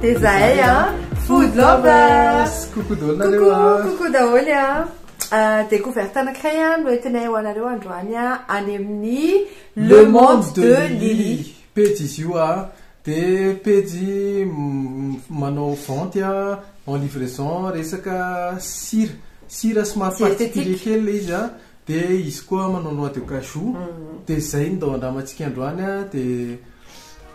Dia zahay a Food Lovers Coucou daholo nareo a Coucou daholo a euh, Découverte anankiray a no entinay ho anareo androany a any amin'ny Le Monde de Lily Pejy izy io a dia pejy manao vente a en livraison resaka sira sira somary particulier kely le izy a dia izy koa manao noix de cajou mm. dia izay ny dao andramantsika androany a dia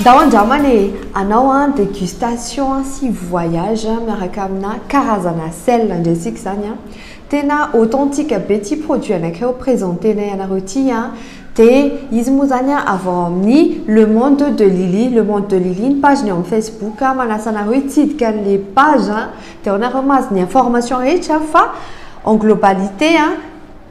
Ndao andramana e! Anao an degustation an sy voyage miaraka amina karazana sel andresika zany an! Tena authentique be ty produit anakireo presentenay anareo ty an! De izy moa zany an avy ao amin'ny le monde de Lily, le monde de Lily ny page-ny ao amin'ny facebook an! Manasa anareo hitsidika an'le page an! Dia anareo mahazo ny information rehetra fa en globalité an,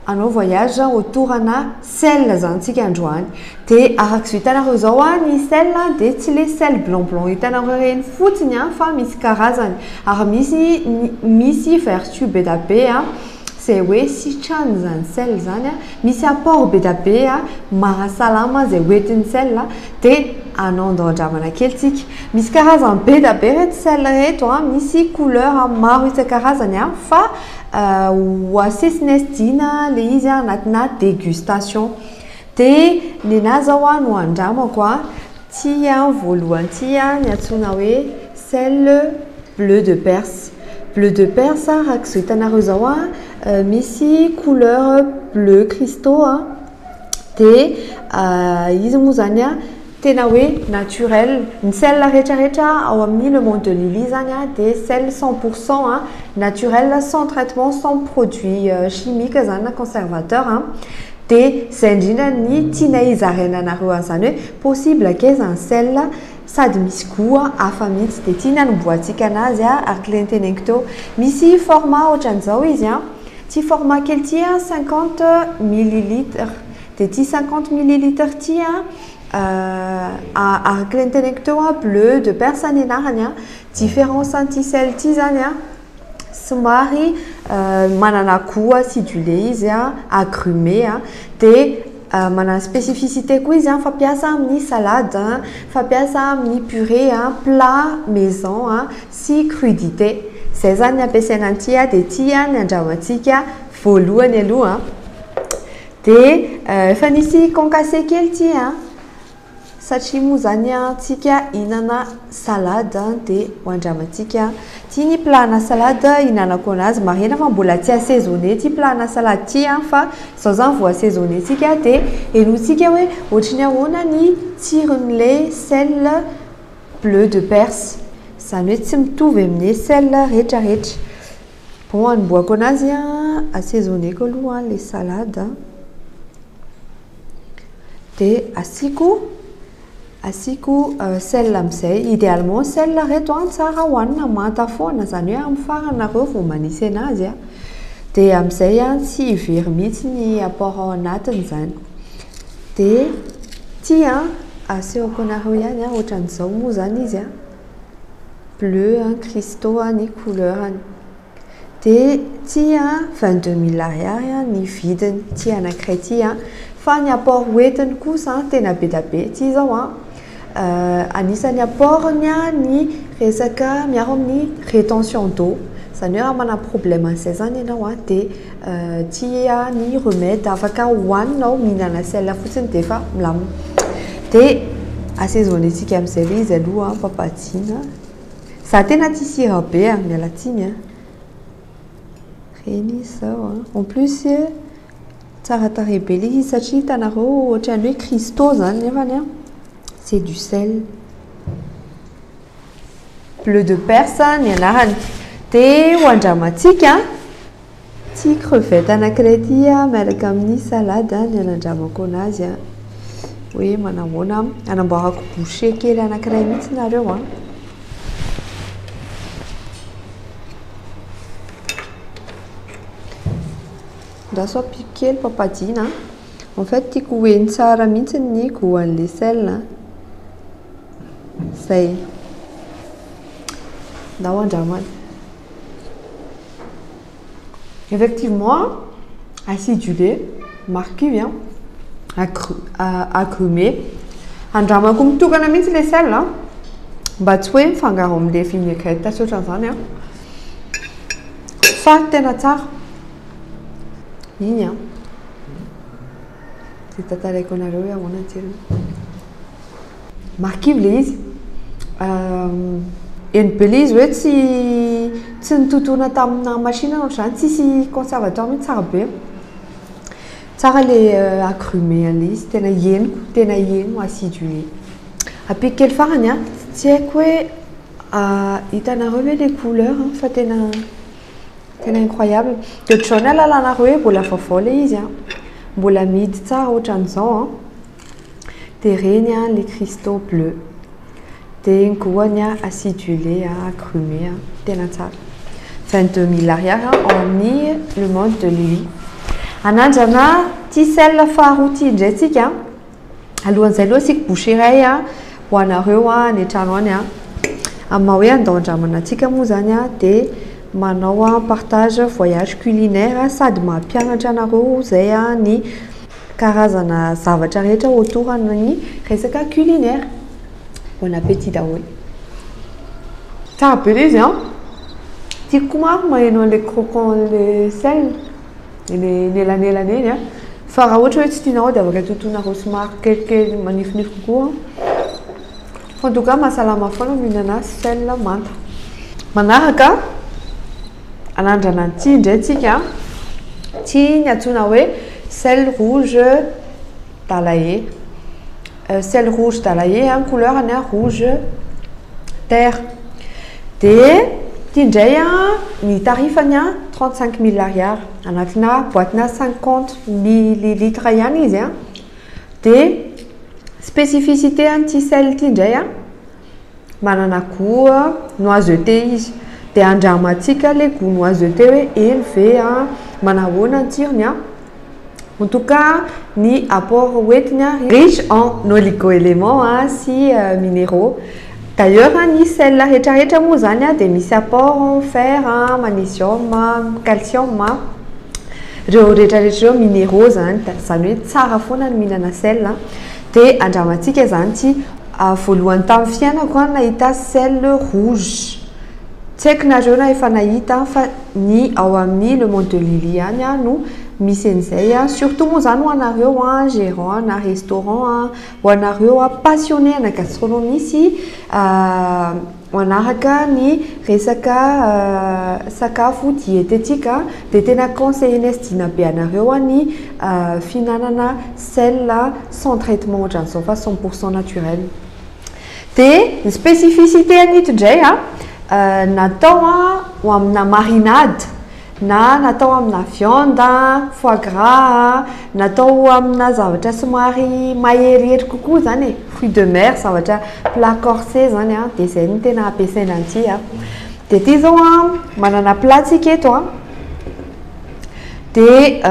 hanao voyage autour ana ciel zany tsika androany. Dia araka izao hitanareo izao an, ny ciel dia tsy le ciel blanc blanc hitanareo ireny fotsiny an, fa misy karazany. Ary misy misy vertu be da be an, Zay hoe sitrany zany sel zany a, misy apport be da be a, mahasalama zay hoentin'ny sel a, de anao ndao andramana kely tsika. Misy karazany be da be reto sel reto a, misy couleur maro isan-karazany a, fa ho asesiness Dina le izy a anatina degustation. De nenahy zao a no andramako a. Tsia, voalohany tsia ny antsoina hoe selle bleu de perse. Bleu de perse araka izao hitanareo izao a, misy couleur bleu cristaux a, dia izy moa izany a tena hoe naturel. Ny selle rehetrarehetra ao amin'ny le monde de Lily izany a dia selle cent pour cent a, naturel, sans traitement, sans produit chimique izany na conservateur. Dia zay indrindra ny tianay hizaraina anareo an'izany hoe possible ake izany sel sady misy gout hafa mihitsy dia ity ny hanombohantsika anazy ary kle ny teneniko teo misy format ohatran'izao izy an ity format kely ity an cinquante millilitre dia ity cinquante millilitre ity an ary kle ny teneniko teo bleu de perse ny anarany an difference an'ity sel ity izany an somary manana goût sy du lait izy agrume dia manana spécificité koa izy fampiasa amin'ny salade fampiasa amin'ny purée plat maison sy crudité izay izany ny ampiasaina an'ity dia ity no andrahoantsika voalohany aloha dia efa nisy concassé kely ity Satria moa zany an tsika hinana salade an de ho andramantsika ty ny plat na salade hinanako anazy marihina fa mbola tsy assaisonner ity plat na salade ity an fa zao zany vao assaisonner tsika de henointsika hoe ohatry ny ahoana ny tsiron'le sel bleu de perse zany hoe tsy mitovy amle sel retraretra Bon anombohako anazy a, assaisoneko aloha le salade a, de asiako asiako sel amizay, idealement sel reto a tsara hoanina manta foana zany hoe amin'ny farany nareo vao manisy anazy a, de amizay a tsy very mihitsy ny apport ao anatiny zany, de ity a asehoko anareo ihany a, otran'izao moa zany izy a. bleu an Christo an ny couleurany dia ity an 22 mille ariary an ny vidiny ity anankiray ity an fa ny apport hoentiny kosa an tena be dia be ity izao an anisan'ny apportny an ny resaka miaro amin'ny retention d'eau izany hoe raha manana problème an'izay izany ianao an dia Tia ny remède afaka hohanina ao mihinana sel fotsiny dia efa milamina. Dia asaisoner antsika amin'izay hoe izy aloha ampapajiana. Za tena tia sira be a, miala tsiny a. Ireny izy izao a. En plus tsara tarehy be ilay izy satria hitanareo ohatran'ny hoe cristaux izany nefany a c'est du sel. Bleu de Perse ny anarany. Dia ho andramantsika ity crevette anankiray ity miaraka amin'ny salade ny anandramako anazy hoe manahoana anamboarako bouchée kely anankiray mihitsy nareo an. Andraso ampiako kely papadina. En fait tiako ho heno tsara mihitsy ny goût an'ilay sel. Zay. Ndao andramana. Effectivement, acidulé, marquis hein. Agru- a- agrumé. Andramako mitokana mihitsy le sel a. Mba tsy hoe mifangaro amin'le vinaigrette sy ohatran'izany a. Fa tena tsara. Iny a. Dia tantaraiko anareo hoe ahoana ny tsirony. Marikivy le izy. Euh, eny be le izy hoe tsy tsy nitotoana tamina machine no zany tsisy conservateur mihitsy tsara be. Tsara le euh, agrume an'le izy, tena henoko, tena heno acidue. Ampiko kely farany a. Tsy haiko hoe ah, hitanareo ve le couleur an, fa tena tena incroyable. De ohatran'ny hoe ahalalana hoe mbola vaovao le izy an, mbola amidy tsara ohatran'izao an. Dia reny an le cristaux bleu. Dia ny goany an acidulé an agrumes an tena tsara. Vingt deux mille ariary an ao amin'ny le monde de lui. Anandrana ticelle faharoa ity indray tsika. Alohan'izay aloha asiako bouchée iray an ho anareo an any an-trano any an. Amin'ny maha hoe andao andramana antsika moa izany an dia manao an partage voyage culinaire sady mampianatra anareo izay an ny. karazana zavatra rehetra autour an'ny resaka culinaire. Bon appétit daholo. Tsara be le izy an. Tiako koa manko maheno an'le croquant le sel, le nelanelana iny an. Fa raha ohatra hoe tsy tianao dia afaka totoinareo somary kelikely manifinify kokoa an. Fa en tout cas mahasalama foana ny mihinana sel manta. Manaraka. Anandrana ny tsihy indray tsika an! Tsihy ny antsoina hoe sel rouge d'Alae. Sel rouge d'Alae an, couleur-ny an, rouge terre. Dia ity indray an, ny tarifany an, 35 mille ariary. Anatina boatina 50 millilitres ihany izy an. Dia spécificité an'ity sel ity indray an, Manana goût a, noisetté izy. Dia andramantsika ilay goût noisetté hoe eny ve an, manahoana ny tsirony an? En tout cas, ny apport hoentiny ary, riche en oligo-éléments sy minéraux. D'ailleurs, ny sel rehetrarehetra moa izany dia misy apport fer, magnesium, calcium. Ireo rehetrarehetra ireo minéraux izany. Izany hoe tsara foana ny mihinana sel. Dia andramantsika izany tsy. Ah voalohany tam fiainako an nahita ciel rouge. Tsy haiko nareo raha efa nahita an fa ny ao amin'ny le monde de Lily ihany an no misy an'izay an. Surtout moa zany ho anareo an gerant ana restaurant an, ho anareo an passionné ana gastronomie sy manahaka ny resaka sakafo diététique dia tena conseiller-n'i Sdina be anareo ny fihinanana sel sans traitement ohatran'ny izao fa cent pour cent naturel dia ny spécificité an'ito indray natao ho amina marinade na natao amina viande a, foie gras a, natao amina zavatra somary maherihery kokoa zany e, fruits de mer, zavatra plat corsé zany a, de zay no tena ampiasaina an'ity a. De ity zao a, manana plat tsika eto a, de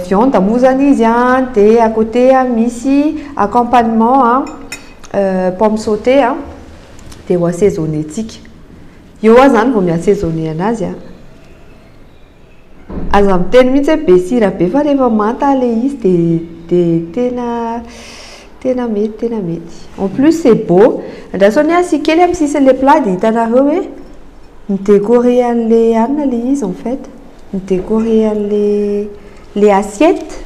viande moa zany izy a, de à côté misy accompagnement a, pomme sautée a, de ho assaisonner-tsika. Eo hoa zany vao mi assaisonner anazy a! Aza miteny mihitsy hoe be sira be fa rehefa manta le izy de de tena tena mety tena mety. En plus c'est beau, andraso anie asia kely am sisiny le plat de hitanareo hoe mi decorer anle hanina le izy en fait, mi decorer anle le assiette.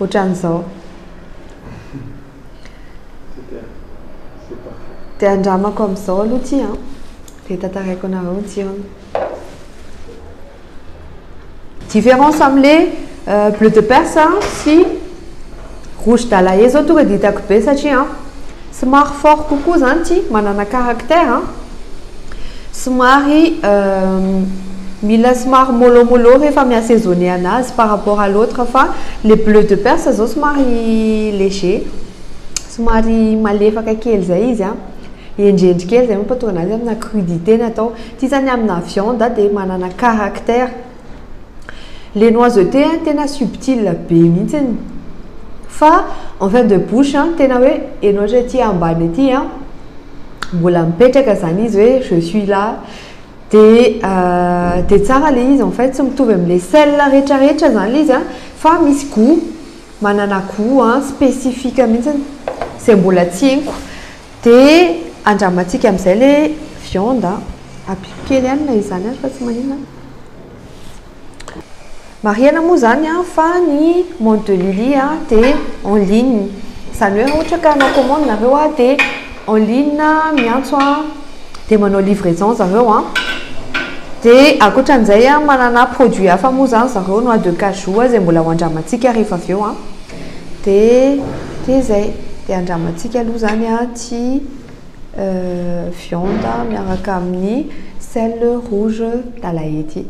Ohatran'izao. Dia andramako amin'izao aloha ity an. Dia tantaraiko anareo ny tsirony. Différence amin'ilay euh, bleu de perse sy rouge d'Alaye zao tonga dia hitako be satria Somary fort kokoa izany tsy manana caractère an! Somary mila somary mollo mollo rehefa mi assaisonner anazy par rapport à l'autre fa le bleu de perse izao somary léger, somary malefaka kely izay izy an! Hendrendry kely izay mampatonga anazy amina crudité ny atao. Ity izany amina viande dia manana caractère. Le noiseté an tena subtil be mihitsiny fa en fin de bouche an tena hoe enao hatry aty ambany aty an mbola mipetraka zany izy hoe je suis là de de tsara le izy en fait tsy mitovy amle sel rehetra rehetra zany le izy an fa misy gout manana gout an spécifique mihitsiny zay mbola tsy henoko Dia andramantsika amin'izay ilay viande an. Ampiko kely ihany na izany aza fa tsy maninona an. Marihana moa izany an fa ny mode de Lily an dia en ligne. Izany hoe raha ohatra ka hanao commande nareo an dia en ligne miantso an dia manao livraison zareo an. Dia ankoatran'izay an manana produit hafa moa izany zareo noix de cajou izay mbola ho andramantsika rehefa avy eo an. Dia dia izay, dia andramantsika aloha izany ity viande miaraka amin'ny sel rouge d'Alain ity.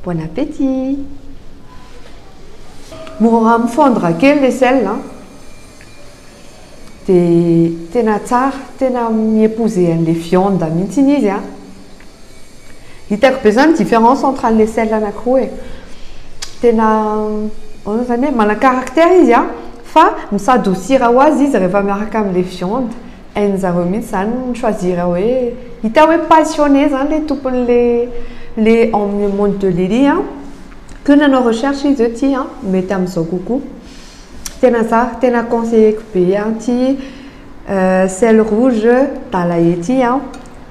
Bon appétit! Mora mi-fondre kely ilay sel an! de tena tsara tena mi epouser anle viande mintsy iny izy an! hitako be zany difference entre anle sel anakiroa e! tena ohatrany zany hoe mana caractère izy an! fa mi s'adoucir ho azy izy refa miaraka amle viande, hainy zareo mintsy zany mi choisir hoe hita hoe passionner zany le tomponle le le monde de Lily an! que nanao recherche izy hoe ty an! mety amzao kokoa. Tena za tena conseiller ko be an ty sel rouge dalaye ty an,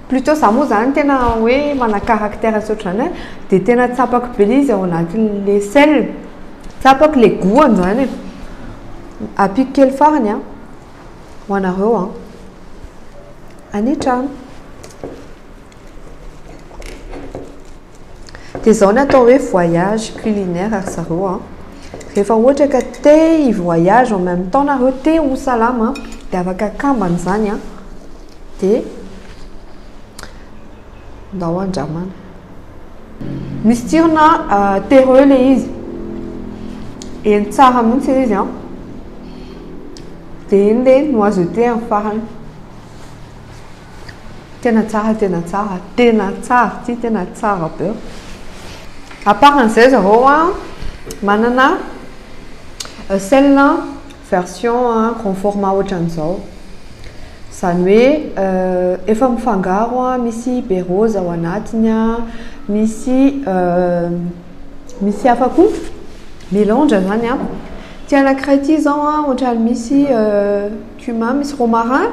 plutot za moa zany tena hoe mana caractère tsy ohatran'izany an, de tena tsapako be le izy ao anatin'le sel, tsapako le goût-any zany e, ampiko kely farany an, ho anareo an, any an-trano. Dia izao ny atao hoe voyage culinaire ry zareo an. Rehefa ohatra ka te hi-voyage en même temps nareo, te ho salama, dia afaka kambana izany an. Dia ndao andramana. Misy tsirona terreux ilay izy. Heny tsara mihitsy ilay izy an. Dia iny ilay noisetté amin'ny farany. Tena tsara, tena tsara, tena tsara ity, tena tsara be. À part an'izay zareo a, manana sel version grand format ohatran'izao. Izany hoe efa mifangaro a, misy be rose ao anatiny a, misy misy hafa koa, melange izany an. Ity anankiray ity izao a, ohatran'ny misy cumin, misy romarin.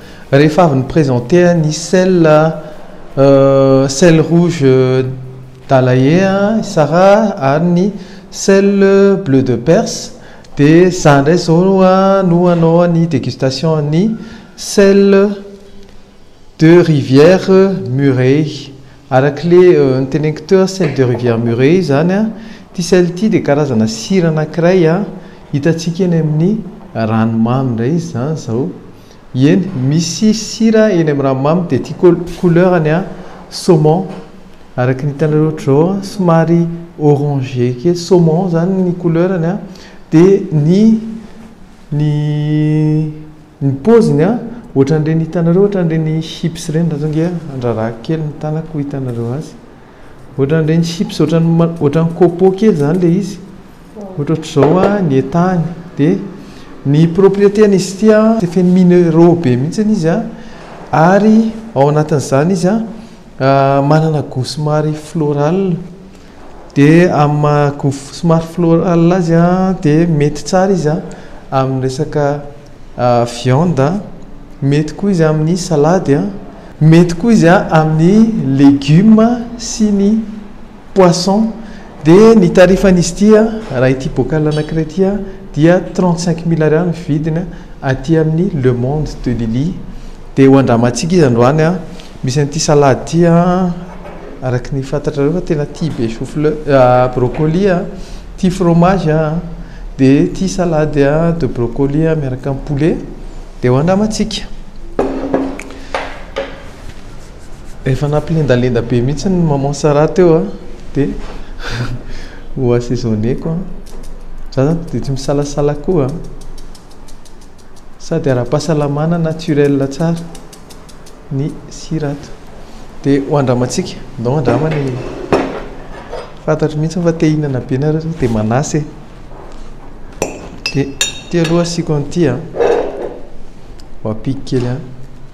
Rehefa avy ni-presenter ny sel sel rouge d'Alain Sara ary ny sel bleu de Perse dia za indray zao no hanao ny degustation an'ny sel de rivière Murray. Araka ilay noteneniko teo sel de rivière Murray izany ity sel ity dia karazana sira anankiray hitantsika eny amin'ny ranomamy indray izy izany izao. Eny misy sira eny am raha mamy de tiako couleur ny ahy saumon araky ny hitanareo ohatr'izao a somary orangé kely saumon zany ny couleur ny a de ny ny ny paoziny a ohatran'ireny hitanareo ohatran'ireny chips ireny raha zao nge andrarahako kely ny tanako ho hitanareo azy ohatran'ireny chips ohatran'ny ma ohatran'ny copeaux kely zany le izy Ohatra ohatr'izao an, ny etany dia ny propriété-n'izy ity an, dia feno minéraux be mihitsy izy an, ary ao anatin'izany izy an, manana goût somary floral, dia amin'ny maha goût somary floral azy an, dia mety tsara izy an, amin'ny resaka viande an, mety koa izy amin'ny salady an, mety koa izy an, amin'ny légumes sy ny. poisson dia ny tarifan'izy ity raha ity bocal anankiray ity dia trente cinq mille ariary ny vidiny aty amin'ny le monde de lily dia ho andramantsika izy androany misy an'ity salade ity araka ny fantatrareo fa tena tia be choux fleur brocolis tia fromage dia tia salade de brocolis miaraka amin'ny poulet dia ho andramantsika Efa nampilendalenda be mihitsy ny maman Sarah teo a, dia ho assaisonner-ko an, za zany dia tsy misalasala koa an, sady ara-pahasalamana naturel tsara ny sira ato, dia ho andramantsika, ndao andraman e, fantatro mihitsy fa te hihinana be nareo zao dia manasa e, dia ity aloha asiako an'ity an, ho ampiko kely an.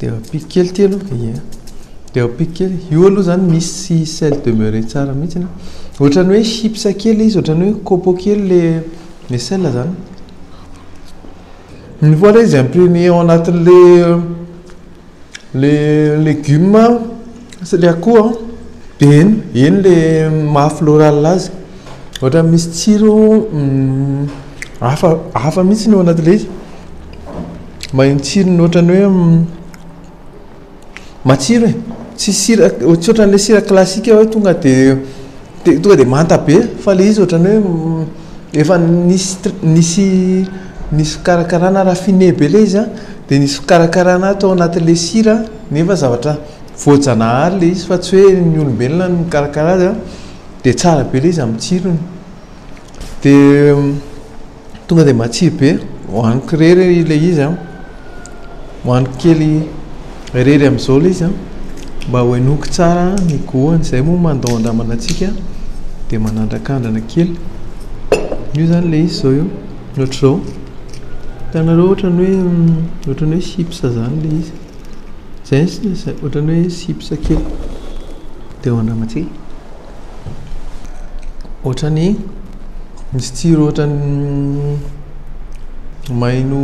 Dia ampiako kely ity aloha, ie. Dia ampiako kely. Io aloha izany misy sel demeure tsara mihitsy. Ohatran'ny hoe chips kely izy, ohatran'ny hoe copo kely ilay ilay sel izany. Une fois ilay izy ampiany ao anatin'ilay ilay legioma sy ilay akoho an, dia eny, eny ilay maha floral azy. Ohatran'ny misy tsiro hafa hafa mihitsy ny ao anatin'ilay izy. Maheno tsirony ohatran'ny hoe matsiro e, tsy sira, tsy ohatran'ilay sira classique hoe tonga dia dia tonga dia manta be fa ilay izy ohatran'ny hoe efa nisy tr- nisy nisy fikarakarana raffiné be ilay izy an, dia nisy fikarakarana tao anatin'ilay sira nefa zavatra voajanahary ilay izy fa tsy hoe ny olombelona no mikarakara azy an, dia tsara be ilay izy amin'ny tsirony, dia. tonga dia matsiro be hohaniko irery ilay izy a hohaniko kely irery amin'izao ilay izy a mba hohenoiko tsara ny goût-ny izay moa mandao an-dramana antsika dia manandrakandrana kely io izany ilay izy izao io ohatr'izao hitanareo ohatran'ny hoe ohatran'ny hoe chips izany ilay izy izay sisa ohatran'ny hoe chips kely dia hoan-dramantsika Ohatrany misy tsiro ohatrany maino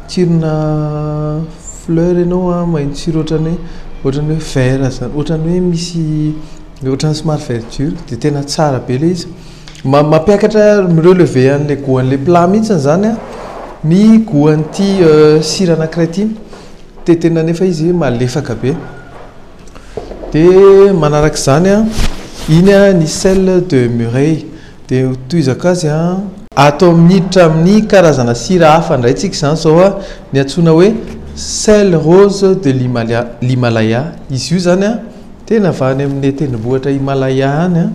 tsirona fleur ianao a, maino tsiro ohatrany hoe ohatrany hoe vert zany, ohatrany hoe misy ohatrany somary verdure dia tena tsara be ilay izy. Ma- mampiakatra mi-relever an'ilay goût-n'ilay plat mihitsy izany an ny goût an'ity sira anankiray ity dia tena nefa izy malefaka be. Dia manaraka izany an, iny an ny sel de Murray. Dia ho tohizako azy an. Atao miditra amin'ny karazana sira hafa indray tsika izany izao an, ny antsoina hoe sel rose de l'Himalaya, l'Himalaya. Izy io izany an, tena avy any amin'ny tendrombohitra Himalaya any an,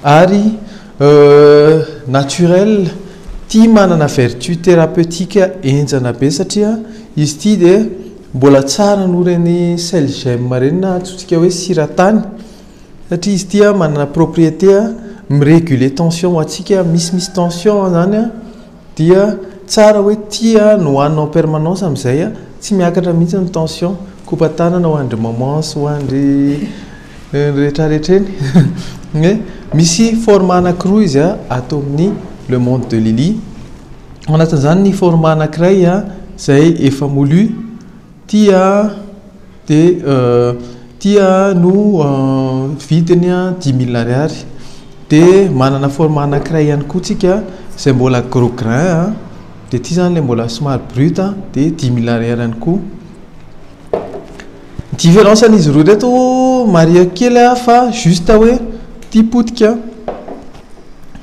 ary naturel, tia manana vertu thérapeutique henjana be satria izy ity dia Mbola tsara noho ireny sel gem ireny na antsointsika hoe sira tany satria izy ity manana propriété mi-reguler tension ho antsika misy misy tension izany dia tsara hoe ity no hohanina en permanence amin'izay tsy miakatra mihintsy ny tension, kopa-tanana ho an'dry maman sy ho an'dry. Ireny rehetra rehetra ireny hoe misy format anankiroa izy a ato amin'ny le monde de Lily. Ao anatin'izany ny format anankiray izay efa moulu, ity dia ity no vidiny dix mille ariary. Dia manana format anankiray ihany koa isika izay mbola gros grain dia ity izany ilay mbola somary brut dia dix mille ariary ihany koa. Différence an'izy roa ireto marieko kely a fa juste hoe ity potika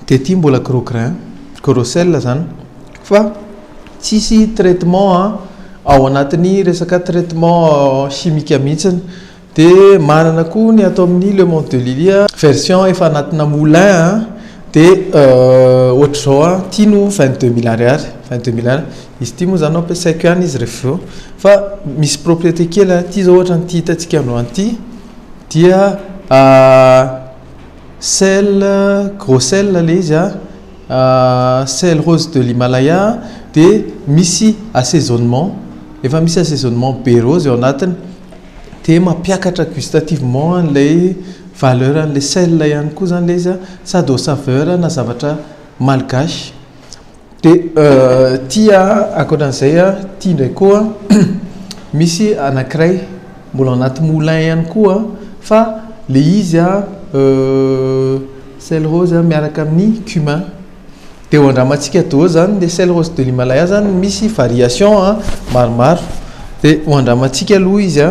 dia ity mbola gros grain, gros sel izany fa tsisy traitement ao anatin'ny resaka traitement chimique mihitsy dia manana koa ny ato amin'ny le monde de Lily a version efa anatina moulin a dia ohatr'izao a ity no vingt deux mille ariary, vingt deux mille ariary. Izy ity moa izany ampiasaiko ihany izy rehefa avy eo. Fa misy propriété kely aty izao ohatra an'ity hitantsika androany ity dia sel gros sel ilay izy sel rose de l'Himalaya dia misy assaisonnement efa misy assaisonnement be rose ao anatiny dia mampiakatra gustativement an'ilay valeur an'ilay sel ihany koa izany ilay izy sady au saveur ana zavatra malgache. Dia ity ankoatra an'izay ity indray koa misy anankiray mbola ao anaty moulin ihany koa fa ilay izy sel rose miaraka amin'ny cumin. Dia ho andramantsika daholo izany ilay sel rose de l'Himalaya izany misy variation maromaro. Dia ho andramantsika aloha izy,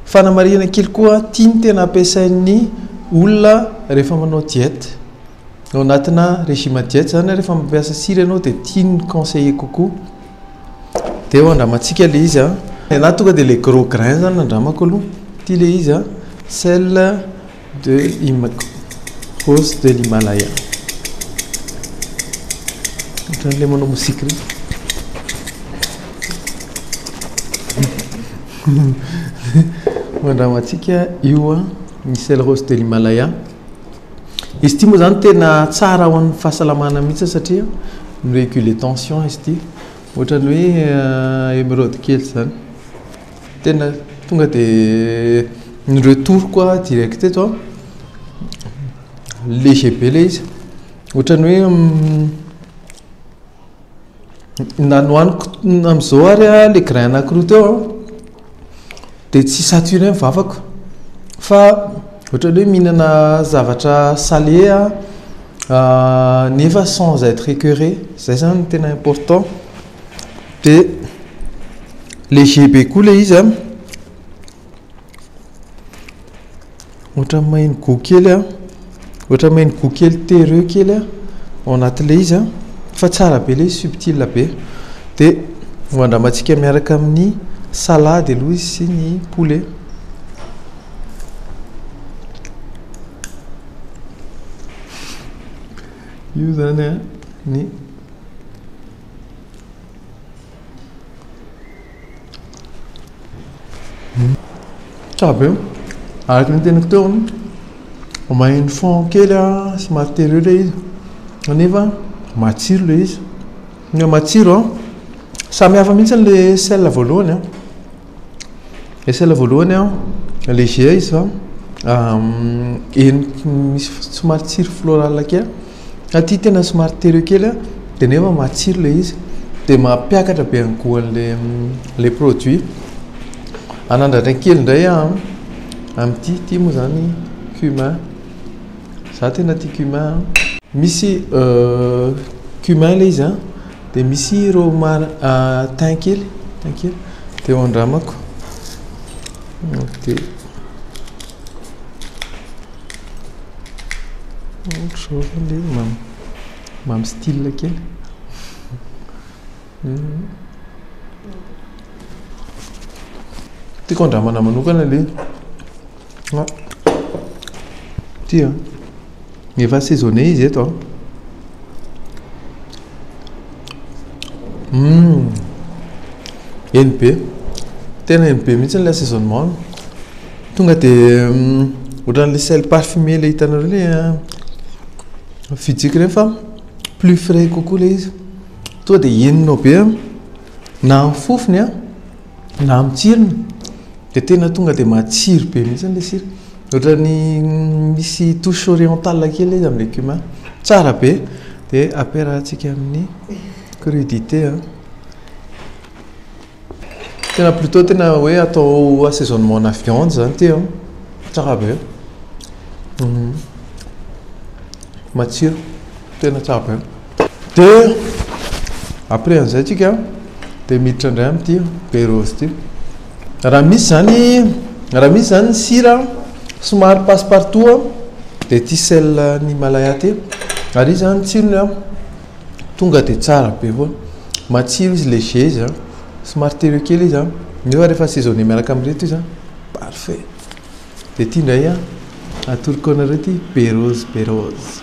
fanamarihana kely koa ity no tena ampiasain'ny olona rehefa manao dieta. Ao anatina régime diète zany rehefa mampiasa sira ianao dia tian'ny conseiller kokoa. Dia eo andramantsika ilay izy a. Ny anahy tonga dia ilay gros grain zany no andramako aloha. Ity ilay izy a, sel de hima- rose de l'Himalaya. Ohatran'ilay manao mozika ireny. Ho andramantsika io a, ny sel rose de l'Himalaya. Izy ity moa izany tena tsara ho an'ny fahasalamana mihitsy satria mi-reguler tension izy ity. Ohatran'ny hoe emeraude kely izany. Tena tonga dia ni-retour-ko aho direct teto an. Léger be ilay izy. Ohatran'ny hoe Na nohaniko amin'izao ary ilay grain anankiroa teo an, dia tsy saturé ny vavako. Fa ohatran'ny hoe mihinana zavatra salé aho nefa sans être écœuré. Izay izany no tena important. Dia léger be koa ilay izy an. Ohatra ny main go kely a, ohatra ny main go kely terreux kely a ao anatin'le izy a, fa tsara be le izy subtil be, de ho andramantsika miaraka amin'ny salady aloha izy sy ny poulet. Io zany a ny. Tsara be, araka ny teniko teo an, vao maheno fond kely aho somary tery ilay izy nefa matsiro ilay izy, matsiro an, samy hafa mihintsy ilay sel voalohany an. Esela voalohany an, le GA iza heniky ny somary tsiro floral kely, aty tena somary terreux kely an, de nefa matsiro le izy, de mampiakatra be ny gout anle le produit, anandratra kely ndray an, amty ty moa zany cumin, za tena tia cumin an, misy cumin le izy an. Dia misy ireo mar tin kely tin kely dia eo andramako dia ohatr'izao ve ilay izy mamy mamy style kely tiako andramana manokana ilay izy Ity an. Efa assaisonné izy eto an. Hum. Eny be. Tena eny be mihitsy ilay assaisonnement. Tonga dia ohatran'ilay sel parfumé ilay hitanareo ilay fijiky rehefa plus frais kokoa ilay izy. Tonga dia henonao be na ny fofony an. Na amin'ny tsirony dia tena tonga dia matsiro be mihitsy ilay sira. Ohatran'ny misy touche orientale kely izy amin'ilay cumin. Tsara be. Dia ampiarahantsika amin'ny crudité. Tena plutôt tena hoe atao assaisonnement-na viande izany ity an. Tsara be. Matsiro. Tena tsara be. Dia après an'izay tsika dia miditra indray amin'ity beurre rose ity. Raha misy izany, raha misy izany ny sira somary passe partout dia ity sel ny Himalaya ity. Ary izy izany ny tsirony an, tonga dia tsara be foana. Matsiro izy, léger izy an, somary terreux kely izy an, nefa rehefa assaisonner miaraka amin'ireto izy an, parfait. Dia ity indray an, atoroko anareo ity beurre rose, beurre rose.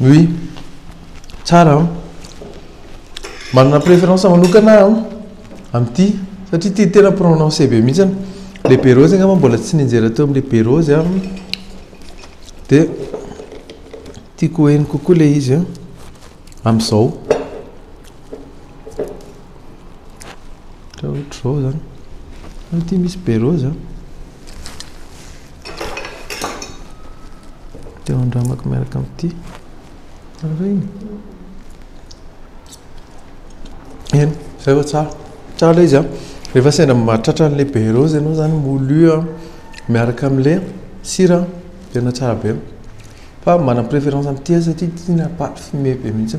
Oui, tsara an! Manana préférence manokana aho amin'ity satria ity tena prononcé be mihitsy, le be rose angamba mbola tsy nianjera teo amin'ilay be rose aho, dia tiako ho heno kokoa ilay izy amin'izao. Raha ohatra izao izany, ianao ity misy be roa izany, dia andramako miaraka amin'ity. Araina. Eny, izay vao tsara. Tsara ilay izy an. Rehefa sendra mahatratra an'ilay be roa ianao izany, moulu an, miaraka amin'ilay sira, tena tsara be. Fa manana préférence amin'ity aho satria ity na paty fumée be mihitsy.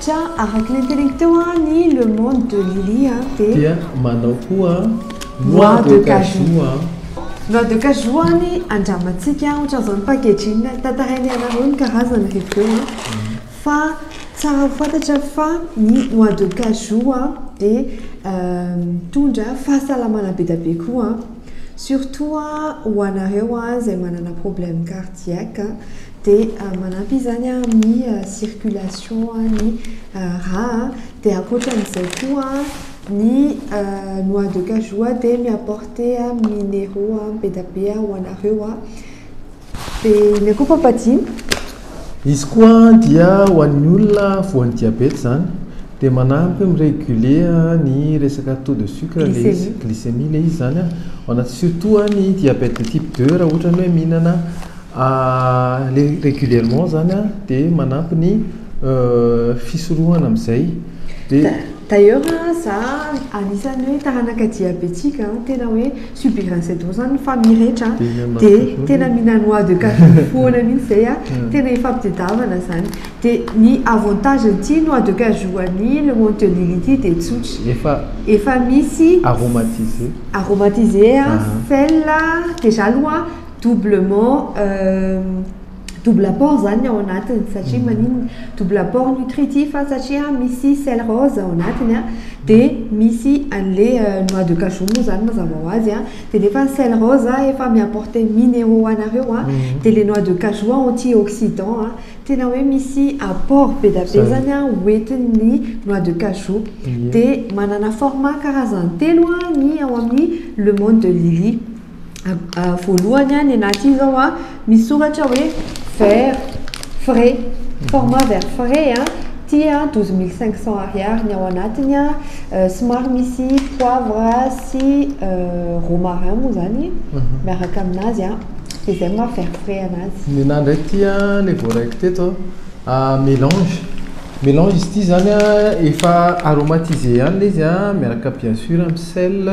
Tiens, araka ny nteniko teo an, ny Le Monde de Lily an, dia. Dia manao koa an, Noix de Cajou an. Noix de Cajou an, andramantsika an, ohatran'izao ny packaging, tantarainay anareo ny karazany rehefa eo an, fa tsara ho fantatra fa ny Noix de Cajou an, dia mitondra fahasalamana be dia be koa an, surtout an, ho anareo an izay manana problème cardiaque an. Dia manampy izany amin'ny circulation ny rà a. Dia ankoatran'izay koa ny noix de cajou dia mi-apporter minéraux be dia be ho anareo a. Dia inona koa Papatsy? Izy koa dia ho an'ny olona voan'ny diabeta izany dia manampy mi-reguler ny resaka taux de sucre ilay izy, glycémie ilay izy izany a, surtout ny diabète de type deux raha ohatra ny hoe mihinana. Aller régulièrement zany an dia manampy ny fisorohana amin'izay dia. D'ailleurs an za anisan'ny hoe taranaka diabetique an tena hoe subir un cedron zany rehefa mirehitra an dia tena mihina noix de cajou foana mihintsy izay an tena ifampitadiavana zany dia ny avantage an'ity noix de cajou an'i le monde de Lily ity dia tsotra efa misy aromatisé aromatisé an sel an dejà aloha an double ment double apport zany ny ao anatiny satria maninona double apport nutritif a satria misy sel rose ao anatiny a dia misy an'le noix de cajou moa zany mazava ho azy a dia nefa ny sel rose efa mi-apporter mineraux ho anareo a dia le noix de cajou anti oxydant a tena hoe misy apport be dia be zany a ho entin'ny noix de cajou dia manana format karazany telo a ny ao amin'ny le monde de Lily voalohany an, ny anaty io izao an, misy soratra hoe vers frais, format vers frais an, ity an douze mille cinq cents ariary ny ao anatiny an, somary misy poivre sy romarin moa izany miaraka amin'azy an, dia izay ny maha vers frais an'azy. Ny anahy indray ity an, ilay voaraiko teto an, mélange, mélange izy ity izany an, efa aromatisé ihany ilay izy an, miaraka bien sûr amin'ny sel,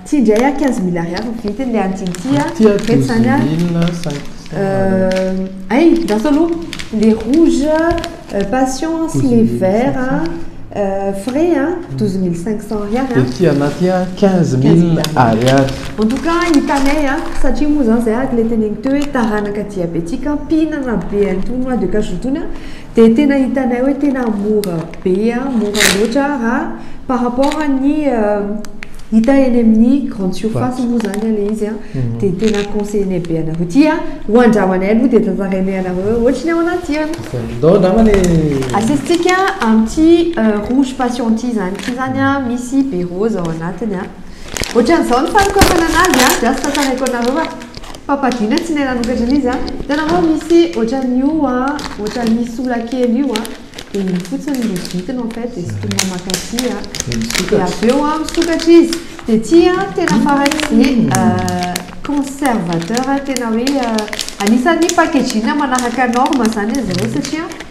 Ty indray ah quinze mille ariary no vidiny le an'tiny ty ah, Ty ah douze mille cinq cent ariary. Ay ndaso aloha le rouge patience sy le vert frais an, douze mille cinq cent ariary an. De ty anah ty an quinze mille ariary. En tout cas hitanay an, satria moa zany zay araka le teneniko teo hoe taranaka diabetique an, mpihinana be an'tony noix de cajou tony an, Dia tena hitanay hoe tena mora be, mora loatra raha par rapport an'ny hita eny amin'ny grande surface moa zany ilay izy an, mhm. dia tena conseiller be anareo ty an, ho andramanay aloha dia tantarainay anareo hoe ohatry ny ao anaty an. Ndao namana e. Asesitsika amin'ity euh, rouge passion ity zany, ity zany an misy be rose ao anatiny an. Ohatran'izao ny fanokafana anazy an, dia asa tantaraiko anareo an. Papa Dina tsy nahay nanokatra an'izy a! Hitanao va misy ohatran'io a, ohatran'ny sola kely io a, dia iny fotsiny no vidiny en fait, dia sintomina makatỳ a, dia avy eo a misokatra izy, dia ity a tena faran'izay conservateur tena hoe anisan'ny packaging manaraka norme izany izy ireo satria.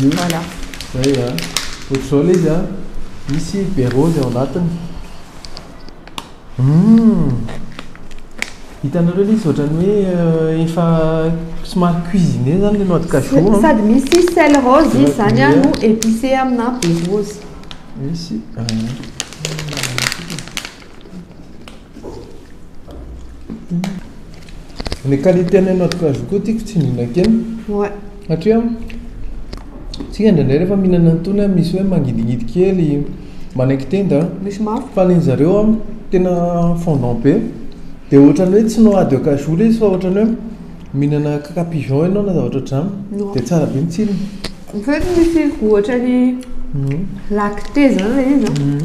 Voilà. Zay a. Ohatr'izao le izy a. Misy be rose ao anatiny. Hum. Hitanareo le izy ohatran'ny hoe euh, efa somary cuisiner zany le noix de cajou. Sady misy sel rose izy zany a no épicé amina be rose. Misy. Ah. Les qualités an'ny noix de cajou koa tiako tsindrina kely Ouais. satria isika indraindray rehefa mihinana an'itony an misy hoe mangidihidy kely, manaiky tenda an. Misy mafy. Fa ny an'ny zareo an tena fondant be dia ohatran'ny hoe tsy noix de cajou le izy fa ohatran'ny hoe mihinana kaka pigeon ianao na zavatra ohatran'izany Non. dia tsara be ny tsirony. En fait misy ohatran'ny lactée zany le izy an.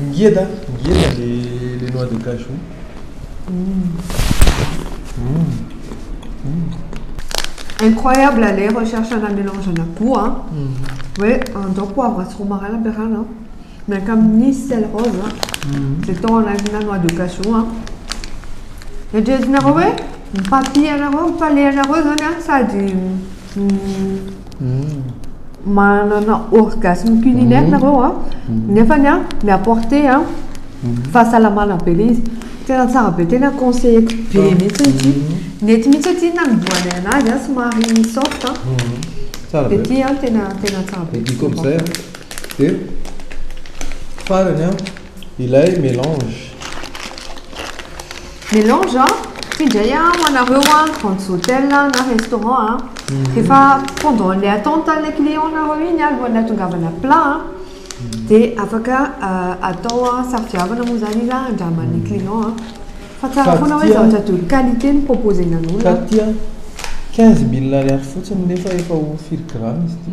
Ngeda ngeda le le noix de cajou. Incroyable ah le recherche ana melange ana gout a, hoe andao poivre sy romarin ampiarahana an, miaraka amin'ny sel rose an, dia atao anatina noix de cajou an, eritreretinareo hoe ny papier anareo, ny palais anareo zany an sady. manana orgasme culinaire mhm. nareo a mhm. nefa ny a mi apporter a mhm. fahasalamana be le izy tena tsara be tena conseilleko be mihitsy ity nety mihitsy aty nanombohana anazy a somary soft a de ty a tena tena tsara be diko amizay a de farany a ilay mélange Melange a, ty ndray a ho anareo a grandes hôtels a na restaurant a, rehefa pendant le attente anle client nareo iny a alohan'ny atongavana plat a de afaka atao a safidiavana moa zany izy a andraman'ny client a, fa tsara foana hoe zavatra de haute qualité no proposenan'olona. Fa ty a quinze mille ariary fotsiny nefa efa ho firy grammes ty?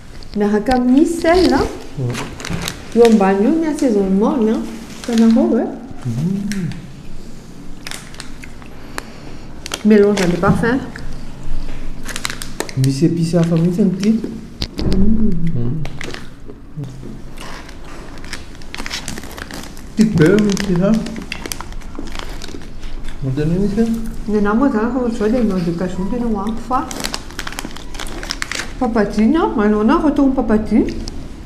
Miaraka amin'ny sel a. Io ambany io ny assaisonnement ny a. Hitanareo e. Mélange de parfum. Misy épices hafa mihitsy amin'ity. Ty beurre no tsy hafa. Manontania misy aho. Ny anà moa zany rehefa ohatr'izao dia mandeha cajou ny tena ho ampy fa papadine an, manao anà vao atao ny papadine.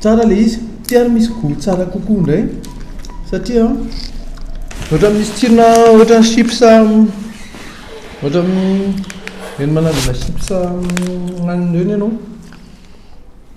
Tsara ilay izy. Ty ary misy goût tsara kokoa indray satria ohatran'ny misy tsirona ohatran'ny chips ohatran'ny ireny manandrana chips ananana ireny ianao.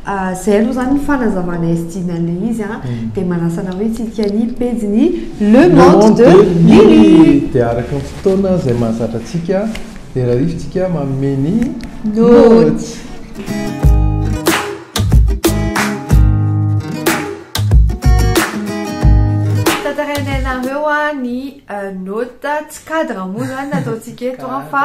Izay aloha izany ny fanazavana SJ na ilay izy an, dia manasa anao hitsidika ny pejin'ny Le Monde de Lily. Dia araka ny fotoana izay mahazatra antsika dia rarifintsika manome ny Notes. Tantarainay anareo ny Notes, tsy cadre moa izany ny ataontsika eto an, fa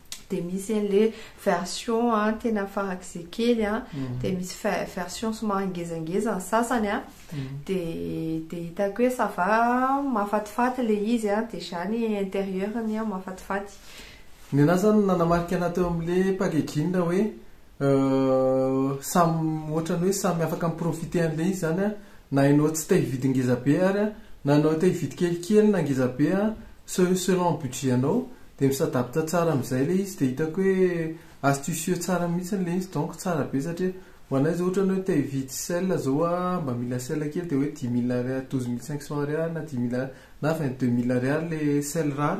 dia misy an'le version an tena farak'izay kely an mhm. dia misy version somary ngezangeza ny sasany an mhm. dia dia hitako hoe sava mafatifaty le izy an dia zany intérieur ny an mafatifaty ny anah zany nanamarika anah teo amin'le pagegina hoe Euh samy ohatrany hoe samy afaka mi-profiter an'ilay izy zany an, na ianao tsy te hividy ngeza be ary an, na ianao te hividy kelikely na ngeza be an, se- selon budget anao, dia mi-s'adapte tsara amin'izay ilay izy, dia hitako hoe astucieux tsara mihitsiny ilay izy, donc tsara be satria ho anay izao ohatrany hoe te hividy sel izao an, mba mila sel kely dia hoe dix mille ariary, douze mille cinq cent ariary na dix mille ariary na vingt deux mille ariary ilay sel rare,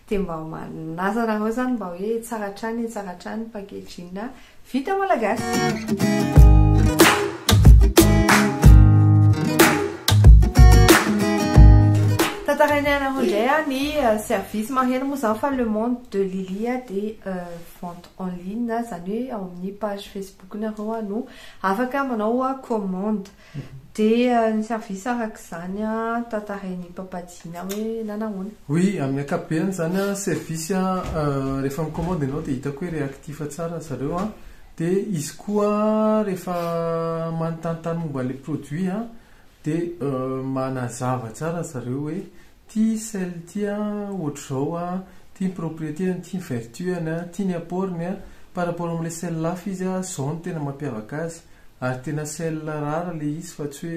Dia mba manazana anareo izany mba hoe tsara hatrany tsara hatrany ny packaging vita malagasy. Tantarainay anareo indray ah ny euh, service maheno moa zany fa le monde de Lily ah de euh, vente en ligne zany hoe ao amin'ny page Facebook nareo ah no afaka manao commande. Dia ny service araka izany tantarain'i Papa Djina hoe nanahoana? Oui, amin'ny ankapobeny izany an, service an, rehefa mi-commande ianao dia hitako hoe réactif tsara ry zareo an, dia izy koa rehefa manontany tany momba ilay produit an, dia manazava tsara ry zareo hoe. Ty sel ty a ohatr'izao a, ty ny propriété-ny, ty ny vertu-any a, ty ny apport-ny a, par rapport amin'ilay sel hafa izy a, izao no tena mampiavaka azy, ary tena sel rara ilay izy fa tsy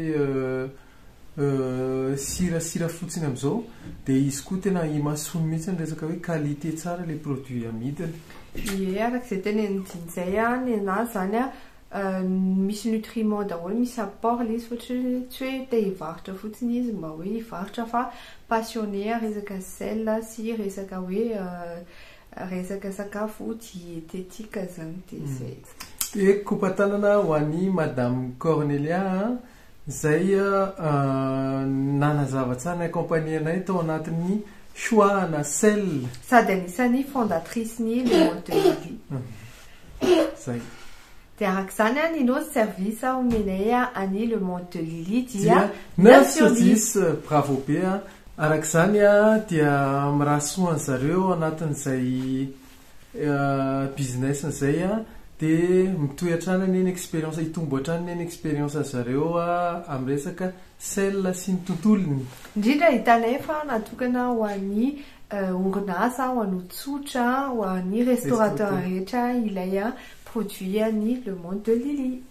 hoe sirasira fotsiny amin'izao, dia izy koa tena imasoany mihitsy ny resaka hoe qualité tsara ilay produit amidiny. Ie, araka izay tenenin'i Jinjay an, ny an'azy izany an, misy nutriments daholo, misy apport le izy fa tsy hoe tsy hoe te hivarotra fotsiny izy mba hoe hivarotra fa passionner resaka sel sy resaka hoe resaka sakafo dietetique zany de zay. Hehy kopa tanana ho an'i madame Cornelia a! Izay nanazava tsara ny accompagner-nay tao anatin'ny choix ana cell. Sady anisan'ny fondatrice-n'ny Le Monde de Lily. Izay. Dia araka izany an, ny nôty service omenay an'i Le Monde de Lily dia neuf sur dix. Bravo be an! Araka izany an, dia mirary soa an'zareo anatin'izay. business zay a de mitohy hatrany anie ny expérience hitombo hatrany anie ny expérience ny zareo amin'ny resaka sel sy ny tontolony indrindra ahitana efa natokana ho an'ny orinasa ho an'ny tsotra ho an'ny restaurateur rehetra ilay produit an'ny le monde de Lily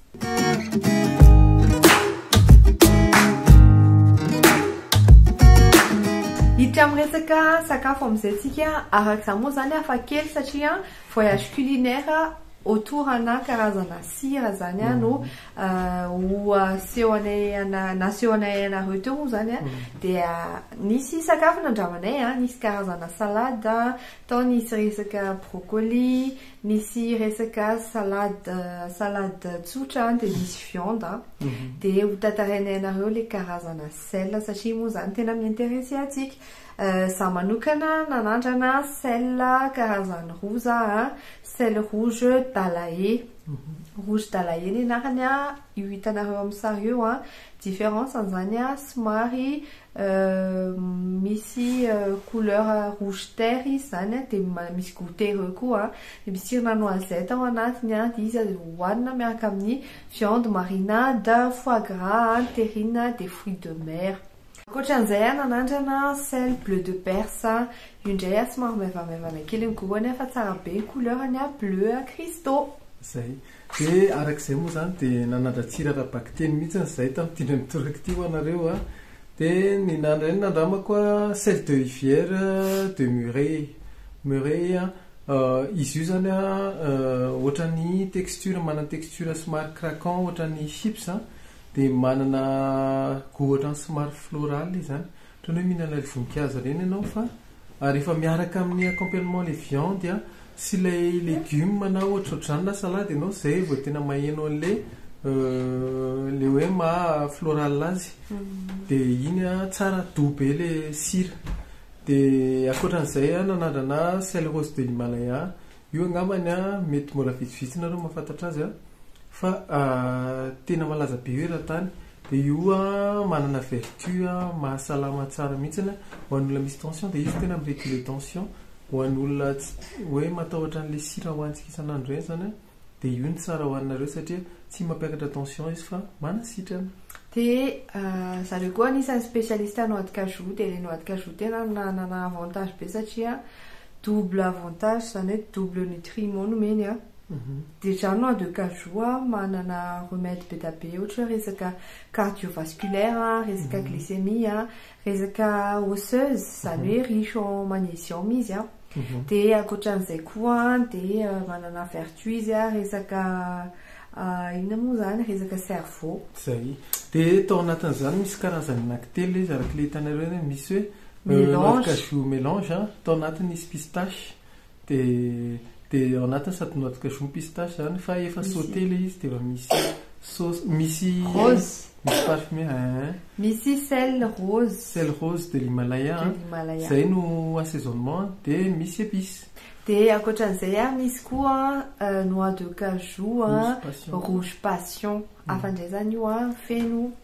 Hiditra amin'ny resaka sakafo amin'izay antsika, araka izany moa izany hafa kely satria voyage culinaire autour ana karazana sira izany mm. no euh, ho aseho anay naseho anay anareo teo moa izany a mm. dia nisy sakafo nandramanay a nisy karazana salade tao nisy resaka brocoli Nisy resaka salade salade tsotra dia nisy viande an, dia ho tantarainay anareo ilay karazana sel satria moa izany tena mi-interesser antsika. Izaho manokana nanandrana sel karazany roa za an, sel rouge dalae, rouge dalae ny anarany an, io hitanareo amin'ny sary io an, différence-ny izany an somary Misy couleur rouge terre izy zany an, dia misy goûter ireo koa an, dia misy tsirona noisette ao anatiny an, dia izy aza hohanina miaraka amin'ny viande marinade, foie gras an, terrine dia fruits de mer. Ankoatran'izay an, nanandrana sel bleu de perse an, io indray an somary maivamaivana kely ny goût-ny an fa tsara be ny couleur-ny an, bleu cristaux. Zay. Dia araka izay moa izany dia nanadratsira ara-bakiteny mihitsy ny zaitra mitindra ny toraka ity ho anareo a. Dia ny nandray ny nandramako a, Celle de Rivière de Murey, Murey a, izy io izany a ohatran'ny texture manana texture somary craquant ohatran'ny chips dia manana goût ohatran'ny somary floral izy izany. Toy ny hoe mihinana ilay voninkazo ireny ianao fa rehefa miaraka amin'ny accompagnement ilay viande a sy ilay légume na ohatrohatr'izany na salade ianao izay vao tena maheno an'ilay ilay hoe maha floral azy. Dia iny a tsara doux be ilay sira. Dia ankoatra an'izay a nanandrana sel rose de l'Himalaya Io angambany an, mety mbola vitsivitsy nareo mahafantatra azy an, fa tena malaza be io eran-tany, dia io an manana vertu an mahasalama tsara mihitsy an, ho an'ny olona misy tension dia izy tena mi-reguler tension, ho an'ny olona hoe matahotra an'ilay sira hohanintsika isan'andro ireny izany an, dia io no tsara hohaninareo satria tsy mampiakatra tension izy fa manasitrana. Dia zareo koa anisan'ny specialiste noix de cajou, dia ilay noix de cajou tena nanana avantage be satria double avantage zany hoe double nutriment no omeny a de zany noix de cajou a manana remède be da be ohatra hoe resaka cardiovasculaire a resaka glycémie a resaka osseuse zany hoe riche en magnesium izy a de ankoatran'izay koa de manana vertu izy a resaka inona moa zany resaka cerveau. Zay. De tao anatin'izany misy karazany anankitelo izy araka le hitanareo any misy hoe. Mélange. Noix de cajou mélange an, tao anatiny misy pistache dia dia ao anatiny sady noix de cajou no pistache izany fa efa sauté ilay izy dia efa misy sauce misy Rose. misy parfumé eeh. Misy sel rose. Sel rose de l'Himalaya an, De l'Himalaya. izay no assaisonnement dia misy épices. Dia ankoatran'izay an, misy koa an noix de cajou an, Rouge passion. rouge passion. Hafa indray izany io an, feno.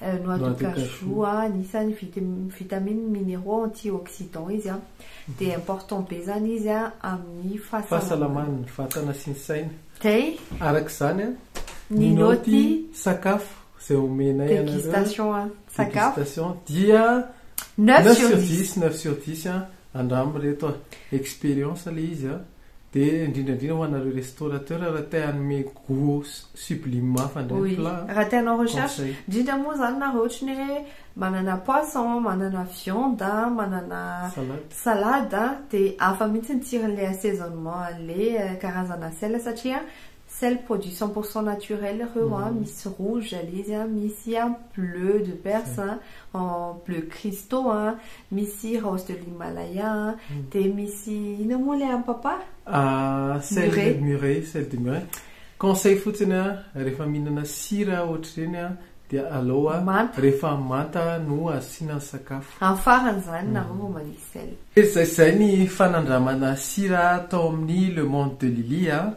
Noix de cajou a, anisan'ny vitamines, mineraux, antioxydants izy an, dia important be izany izy an amin'ny fahasalaman'ny vatana sy ny saina. Dia. Araka izany an, ny naoty sakafo izay omenay anareo. Dégustation an, sakafo. Dégustation dia neuf sur dix, neuf sur dix an, andramo ireto an, expérience ilay izy an. Dia indrindra indrindra ho anareo restaurateur raha te hanome gout sublime hafa indray ny plat a. Raha te hanao recherche, indrindra moa izany nareo ohatra ny hoe manana poisson, manana viande, manana salade dia hafa mihitsy ny tsiron'ilay assaisonnement an'ilay karazana sel satria Sel produit cent pour cent naturel reo an, misy rouge le izy an, misy an bleu de perse an, bleu cristaux an, misy rose de l'himalaya an, dia misy inona moa ilay an'i papa? Sel de mure, sel de mure, conseil fotsiny an, rehefa mihinana sira ohatr'ireny an, dia aleo an rehefa manta no asiana ny sakafo. Amin'ny farany izany nareo vao manisy sel. Izay izay ny fanandramana sira tao amin'ny Le Monde de Lily an.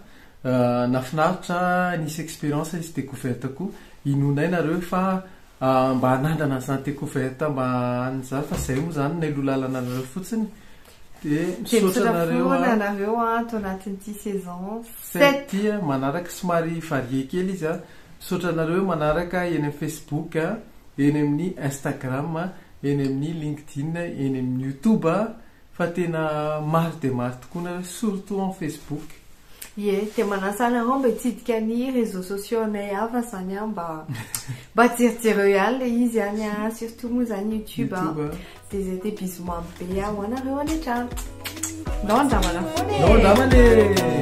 Nafinaritra nisy experience nisy decouverte koa inoanay nareo fa mba hanandrana an'izany decouverte mba an'ny zany fa zay moa zany no lalanaanareo fotsiny dia misaotra anareo an! Dia misaotra foana anareo an ato anatin'ity saison sept ity an! Manaraka somary varié kely izy an! Misaotra anareo manaraka eny amin'ny Facebook an! Eny amin'ny Instagram an! Eny amin'ny LinkedIn, eny amin'ny YouTube an! Fa tena maro dia maro tokoa nareo surtout en Facebook. Ie, dia manasa anareo mba hitsidika ny réseaux sociaux anay hafa izany an, mba mba jerijereo ihany ilay izy any an, surtout moa izany YouTube an. YouTube an. Dia izay dia bisous mamy be an, ho anareo any an-trano. Ndao handramana foana e! Ndao handramana e!